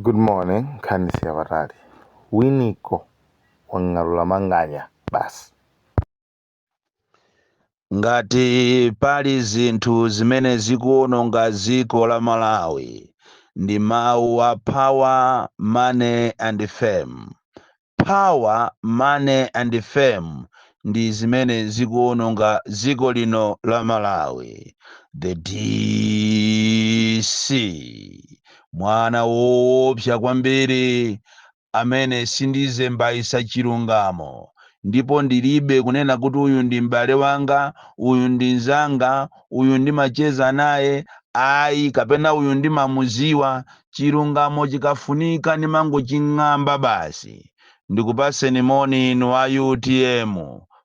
Good morning nkhani si yapatali Winiko wang'alula Manganya basi. Ngati pali zinthu zimene zikuononga dziko la Malawi ndi mawu a power, money and fame. Power, money and fame ndi zimene zikuononga dziko lino la Malawi. The DC. Mwana woopsa kwambiri amene sindizembaisa chilungamo ndipo ndilibe kunena kuti uyu ndi m'bale wanga, uyu ndi nzanga, uyu ndimacheza naye, ayi kapena uyu ndimamuziwa chilungamo chikafunika ndimangoching'amba basi. Ndikupaseni moni inu a utm,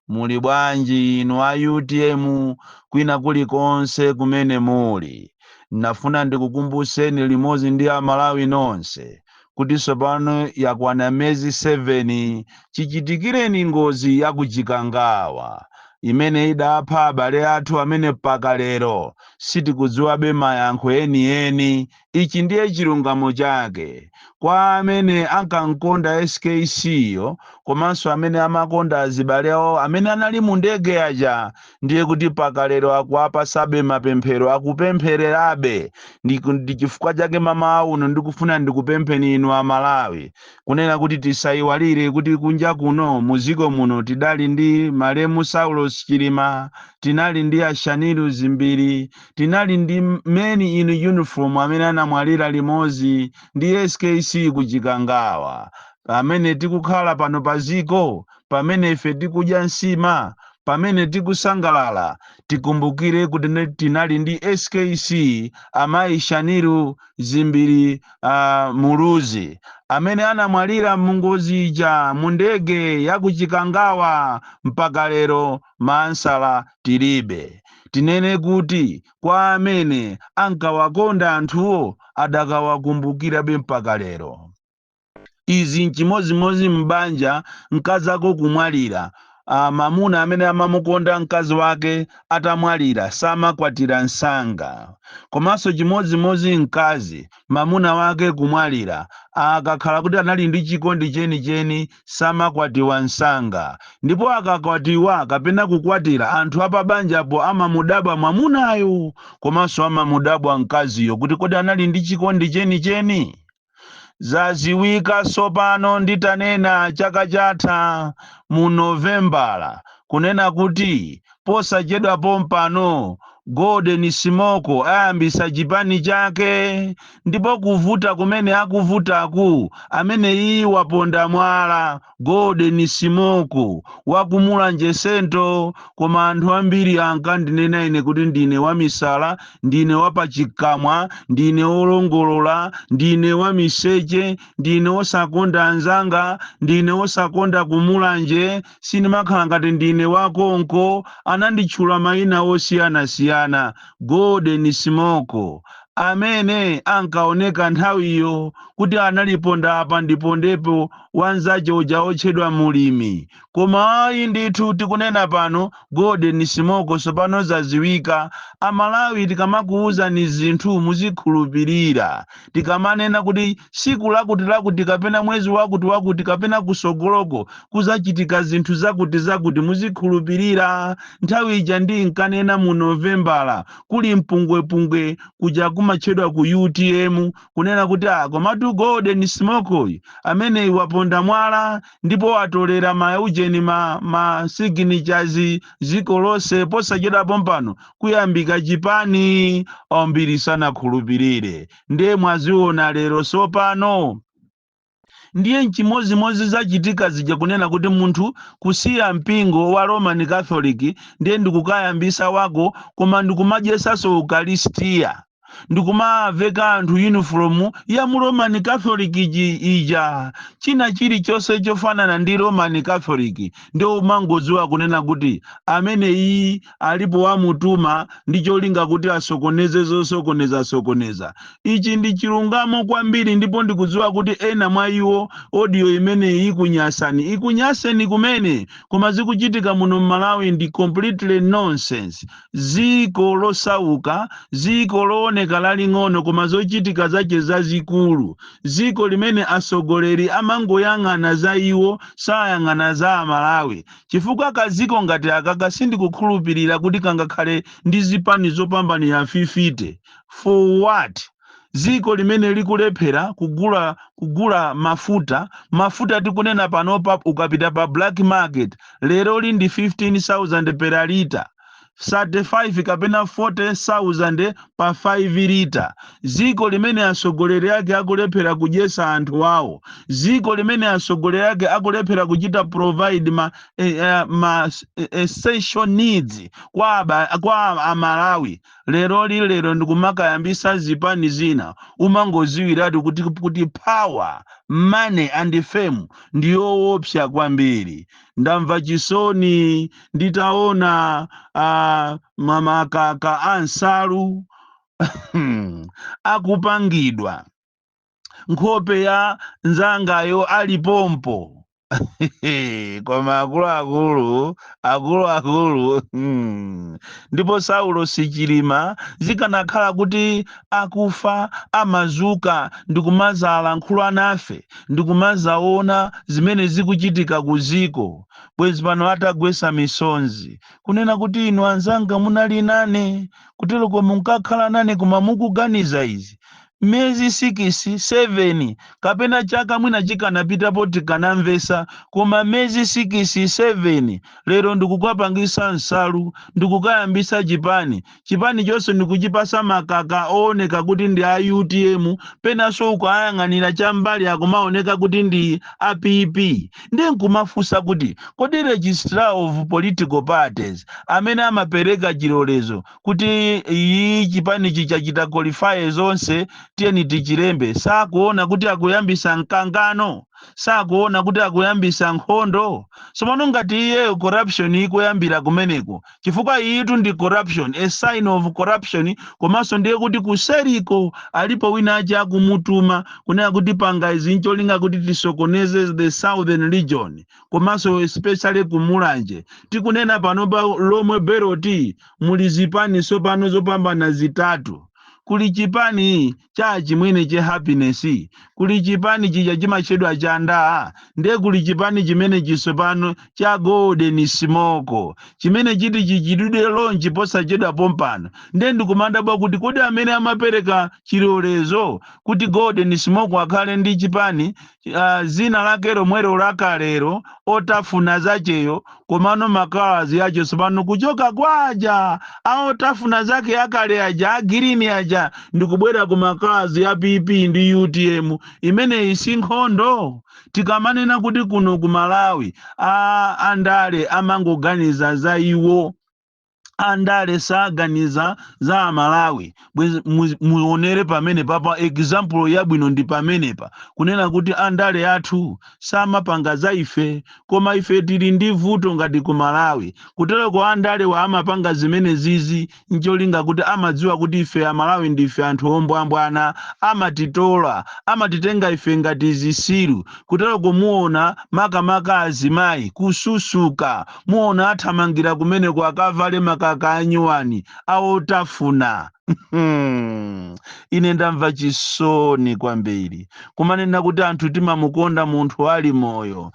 muli bwanji inu a utm kwina kulikonse kumene muli. Nafuna ndikukumbuseni limodzi ndi a Malawi nonse kuti tsopano yakwana miyezi 7 chichitikireni ngozi ya ku Chikangawa imene idapha abale athu amene mpaka lero sitikudziwabe mayankho enieni Ichi ndiye chilungamo chake kwa amene ankamkonda skc yo komanso amene amakonda azibale awo amene anali mu ndege ija ndiye kuti paka lero akuwapasabe mapemphero akupemphererabe ndi chifukwa chake m'mawa uno ndikufuna ndikupempheni inu a Malawi kunena kuti tisaiwalire kuti kunja kuno mu dziko muno tidali ndi malemu Saulos Chilima tinali ndi a Shanil Dzimbiri Tinali ndi men in uniform amene anamwalira limodzi ndi skc ku chikangawa pamene tikukhala pano pa ziko pamene ife tikudya nsima pamene tikusangalala tikumbukire kuti tinali ndi skc amayi Shanil Dzimbiri Muluzi amene anamwalira mungozi ija mundege ya ku chikangawa mpaka lero Mansala tilibe. Tinene kuti kwa amene ankawakonda anthuwo adakawakumbukirabe mpaka lero? Izi n'chimodzimodzi m'banja, mkazako kumwalira, mamuna amene amamukonda mkazi wake atamwalira samakwatira msanga. Komanso chimodzimodzi mkazi, mamuna wake kumwalira, akakhala kuti anali ndi chikondi chenicheni samakwatiwa msanga ndipo akakwatiwa kapena kukwatira anthu apabanjapo amamudabwa mwamunayo komanso amamudabwa mkaziyo kuti kodi anali ndi chikondi chenicheni? Zaziwika tsopano nditanena chaka chatha mu Novembala kunena kuti posachedwa pompano Golden Simoko ayambisa chipani chake ndipo kuvuta kumene akuvutaku amene iyi waponda mwala Golden Simoko wakumulanje central koma anthu ambiri ankandinena ine kuti ndine wamisala ndine wapakamwa ndine wolongolola ndine wamiseche ndine wosakonda anzanga ndine wosakonda kumulanje sindimakhala ngati ndine wa konko ananditchula maina osiyanasiyana Golden Simoko amene ankaoneka nthawiyo kuti anali pondaapa-mpondepo wanzache uja wotchedwa mulimi koma ayi ndithu tikunena pano Golden Simoko tsopano zaziwika amalawi tikamakuuzani zinthu muzikhulupirira Tikamanena kuti tsiku lakutilakuti kapena mwezi wakutiwakuti kapena kutsogoloko kudzachitika zinthu zakutizakuti, muzikhulupirira. Nthawi ija ndinkanena mu Novembala kuli mpungwepungwe kuja kumatchedwa ku utm, kunena kuti ah komatu Golden Simoko uyu, ameneyu waponda mwala ndipo watolera ma ujeni ma ma signatures dziko lonse, posachedwa pompano kuyambika chipani ambiri sanakhulupirire ndiye mwaziona lero sopano ndiye nchimozimozi zachitika zija kunena kuti munthu kusiya mpingo wa roman catholic ndiye ndikukayambisa wako koma ndikumadyesaso ukalistiya ndikumawaveka anthu yunifomu ya mu roman catholic iji- ija china chilichonse chofanana ndi roman catholic ndiye umangodziwa kunena kuti amene iyi alipo wamutuma ndi cholinga kuti asokoneze zosokoneza sokoneza ichi ndi chilungamo kwambiri ndipo ndikudziwa kuti ena mwa inu audio imeneyi ikunyasani ikunyaseni kumene koma zikuchitika muno mmalawi ndi completely nonsense dziko losauka, dziko looneka laling'ono koma zochitika zake zazikulu, dziko limene atsogoleri amangoyang'ana za iwo sayang'ana za amalawi, chifukwa ka dziko ngati akaka sindikukhulupirira kuti kangakhale ndi zipani zopambanira 50, for what? dziko limene likulephera kugula kugula mafuta mafuta tikunena panopa ukapita pa black market lero li ndi 15000 per lita 35 kapena 40000 pa 5 lita dziko limene atsogoleri ake akulephera kudyetsa anthu awo dziko limene atsogoleri ake akulephera kuchita provide ma, eh, eh, ma eh, essential needs kwa, aba, kwa amalawi Leroli lero ndikumakayambisa zipani zina umangoziwiratu kuti kuti power, money and fame ndiyoopsa kwambiri. Ndamva chisoni nditaona a ma makaka a nsalu akupangidwa. nkhope ya nzangayo ali pompo koma akuluakulu akuluakulu hmm. ndipo Saulosi Chilima zikanakhala kuti akufa amazuka ndikumazalankhula nafe ndikumazaona zimene zikuchitika ku ziko bwezi pano atagwesa misonzi kunena kuti inu anzanga munali nane kuteloko munkakhala nane koma mukuganiza izi miyezi sikisi, seveni, kapena chaka mwina chikanapitapo tikanamvetsa, koma miyezi sikisi, seveni, lero ndikukapangitsa nsalu, ndikukayambitsa chipani, chipani chonse ndikuchipatsa makaka ooneka kuti ndi a utm, penanso ukayang'anira chambali akumaoneka kuti ndi a PP, ndiye nkumafunsa kuti kodi registrar of political parties amene amapereka chilolezo kuti iyi chipanichi chachita qualify zonse tiyeni tichilembe sakuona kuti akuyambisa mkangano sakuona kuti akuyambisa nkhondo somano ngati iye corruption ikuyambira kumeneko chifukwa iyitu ndi corruption a sign of corruption komanso ndiye kuti kuseriko alipo wina wache akumutuma kunena kuti panga izi ncholinga kuti tisokoneze the southern region komanso especially ku Mulanje tikunena pano pa Lomwe belt muli zipani tsopano zopambana zitatu. Kuli chipani cha achimwene che Happiness, kuli chipani chija chimatchedwa cha ndaa, ndiye kuli chipani chimenechi tsopano cha Golden Smoke chimene chiti chichitidwe launch posachedwa pompano. Ndiye ndikumadabwa kuti kodi amene amapereka chilolezo kuti Golden Smoke akhale ndi chipani ah, zina lake lomwelo lakalero otafuna zacheyo komano makalazi acho tsopano kuchoka kwaja aotafuna zake akale aja a green aja ndikubwera ku makalazi ya pp ndi utm imeneyi si nkhondo tikamanena kuti kuno ku malawi andale amangoganiza za iwo andale saganiza za amalawi bwezi mu- muonere pamenepapa example yabwino ndi pamenepa kunena kuti andale athu samapanga za ife koma ife tili ndi vuto ngati ku malawi kutereko andalewa amapanga zimenezizi ncholinga kuti amadziwa kuti ife amalawi ndife anthu ombwambwana amatitola amatitenga ife ngati zisiru kutereko muona makamaka azimayi kususuka Muona athamangira kumeneko kukavale makaka anyuwani a otafuna. Ine ndamva chisoni kwambiri kumanena kuti anthu timamukonda munthu ali moyo.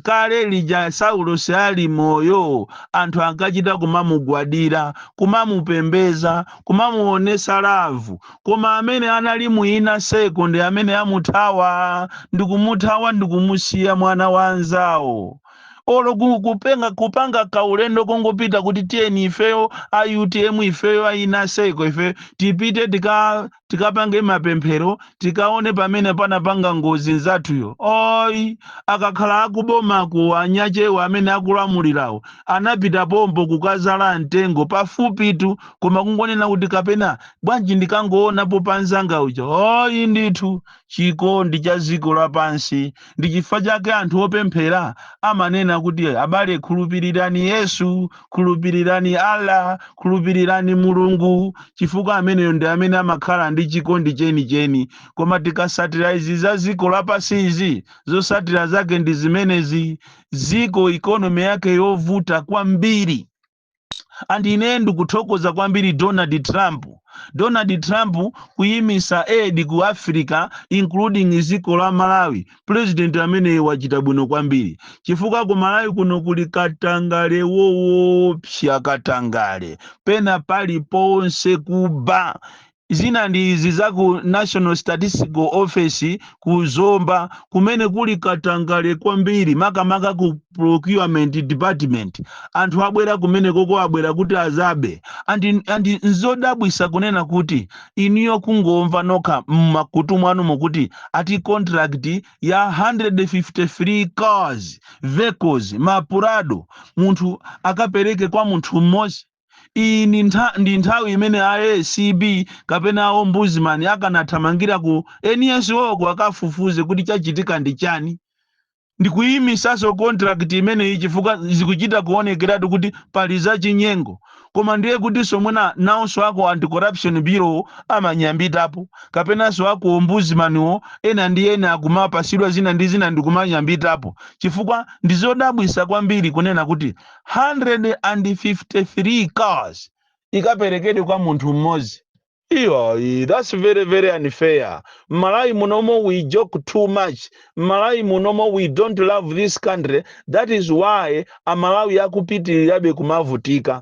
Kale lija Saulosi ali moyo, anthu ankachita kumamugwadira, kumamupembeza, kumamuonesa lavu, koma amene anali mu inner circle ndi amene amuthawa, ndikumuthawa ndikumusiya mwana wa anzawo. olo kupanga kaulendo kongopita kuti tiyeni ifeyo a utm ifeyo a inner circle ifeyo tipite tikapange mapemphero tikaone pamene panapanga ngozi nzathuyo oyi akakhala akubomako anyachewa amene akulamulirawo anapita pompo kukazala mtengo pafupitu koma kungonena kuti kapena bwanji ndikangoonapo panzanga uja oyi ndithu chikondi cha ziko lapansi. Ndi chifukwa chake anthu opemphera amanena kuti abale khulupirirani Yesu, khulupirirani Allah, khulupirirani Mulungu, chifukwa ameneyo ndi amene amakhala ndi chikondi chenicheni. Koma tikasatira izi za ziko lapansizi, zosatira zake ndi zimenezi, dziko ikonomi yake yovuta kwambiri. and ine ndikuthokoza kwambiri donald trump donald trump kuyimisa aid ku africa including ziko la malawi president amene wachita bwino kwambiri chifukwa ku malawi kuno kuli katangale woopsa katangale pena paliponse kuba Zina ndi izi za ku National Statistical Office ku Zomba kumene kuli katangale kwambiri makamaka ku Procurement Department. Anthu abwera kumenekoko abwera kuti azabe and nzodabwisa kunena kuti inuyo kungomva nokha mmakutu mwanumo kuti ati contract ya 153 cars vehicles ma Prado munthu akapereke kwa munthu mmodzi Iyi ndi nthawi imene a ACB kapena a Ombudsman akanathamangira ku NSO ko akafufuze kuti chachitika ndi chani. Ndikuyimisaso contract imeneyi chifukwa zikuchita kuonekeratu kuti pali za chinyengo. Koma ndiye kutiso mwina nawonso a ku Anti-Corruption Bureau amanyambitapo, kapenaso a ku Ombudsman wo ena ndi ena akumapasidwa zina ndi zina ndikumanyambitapo. Chifukwa ndizodabwisa kwambiri kunena kuti. 153 cars ikaperekedwe kwa munthu mmodzi iyayi that's very very unfair mmalawi munomo we joke too much mmalawi munomo we don't love this country that is why amalawi akupitirirabe kumavutika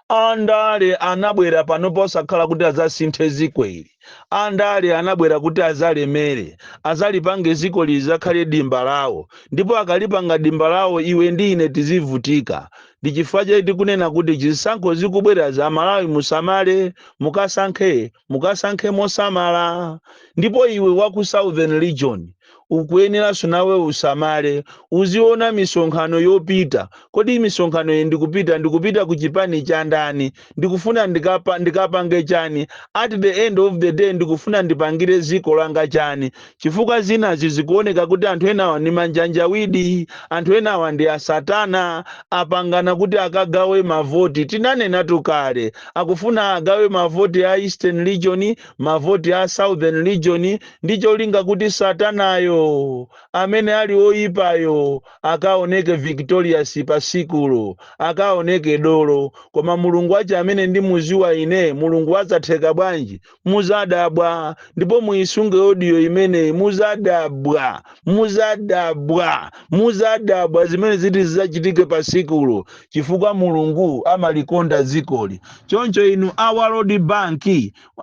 andale anabwera pano posakhala kuti azasinthe ziko ili andale anabwera kuti azalemere azalipange ziko lizakhale dimba lawo ndipo akalipanga dimba lawo iwe ndi ine tizivutika ndi chifukwa chake tikunena kuti zisankho zikubwera za malawi musamale mukasankhe mukasankhe mosamala ndipo iwe wa ku southern region ukuyeneranso nawe usamale uziona misonkhano yopita kodi misonkhano iyi ndikupita ndikupita ku chipani cha ndani ndikufuna ndikapange chani at the end of the day ndikufuna ndipangire ziko langa chani chifukwa zinazi zikuoneka kuti anthu enawa ndi manjanjawidi anthu enawa ndi asatana apangana kuti akagawe mavoti tinanenatu kale akufuna agawe mavoti a eastern region mavoti a southern region ndi cholinga kuti Satanayo, amene ali woyipayo, akawoneke victorious pa tsikulo, akawoneke dolo. Koma Mulungu wache amene ndimuziwa ine, Mulungu wazatheka bwanji? Muzadabwa. Ndipo muyisunge audio imeneyi, muzadabwa, muzadabwa, muzadabwa zimene ziti zizachitike pa tsikulo, chifukwa Mulungu amalikonda dzikoli. Choncho inu a World Bank,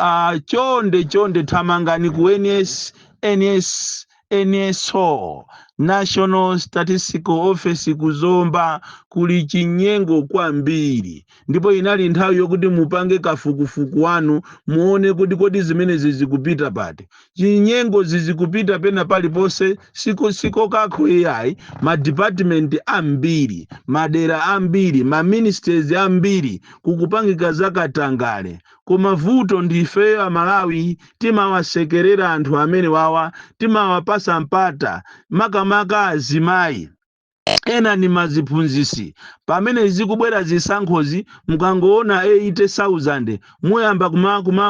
Ah, chonde chonde thamangani ku NS, NS, NSO National Statistical Office ku Zomba kuli chinyengo kwambiri ndipo inali nthawi yokuti mupange kafukufuku wanu muone kuti kodi zimenezi zizikupita pati chinyengo zizikupita pena paliponse siko kokha iyayi ma department ambiri madera ambiri ma ministries ambiri kukupangika zakatangale koma vuto ndi ifeyo amalawi timawasekerera anthu amenewawa timawapasa mpata makamaka azimayi ena ndi maziphunzisi pamene zikubwera zisankhozi mukangoona 80000 muyamba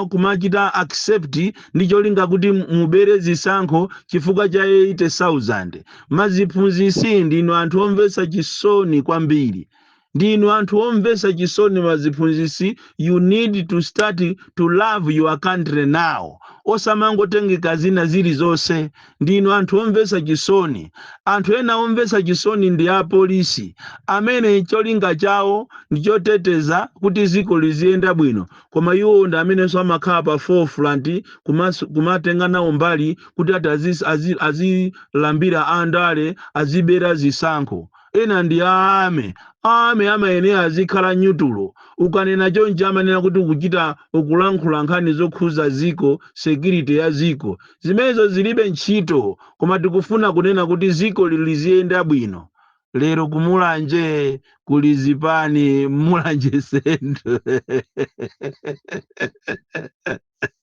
kumachita accept ndi cholinga kuti mubere zisankho chifukwa cha 80000 maziphunzisi ndinu anthu omvetsa chisoni kwambiri Ndinu anthu omvesa chisoni maziphunzisi you need to start to love your country now osamangotengeka zina zilizonse ndinu anthu omvesa chisoni anthu ena omvesa chisoni ndi apolisi amene cholinga chawo ndichoteteza kuti ziko liziyenda bwino koma iwo ndi amenenso amakhala pa forefront kumas kumatenga nawo mbali kuti ati azi azi azilambira andale azibera zisankho Ena ndi a army. Army amayenera azikhala nyutulo. Ukanena chonchi amanena kuti ukuchita, ukulankhula nkhani zokhuza dziko, security ya dziko. Zimenezo zilibe ntchito. Koma tikufuna kunena kuti dziko lili liziyenda bwino. Lero ku Mulanje kuli zipani, Mulanje Central.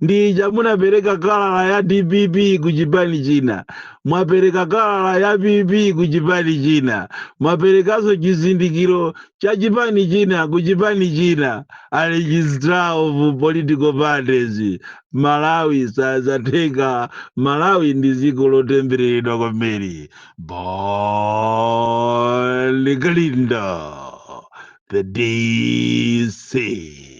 ndi uja munapereka kalala ya dpp ku chipani china mwapereka kalala ya pp ku chipani china mwaperekanso chizindikiro cha chipani china ku chipani china a registrar of political parties malawi sazatheka malawi ndi dziko lotembereredwa kwambiri bon kalindo the dc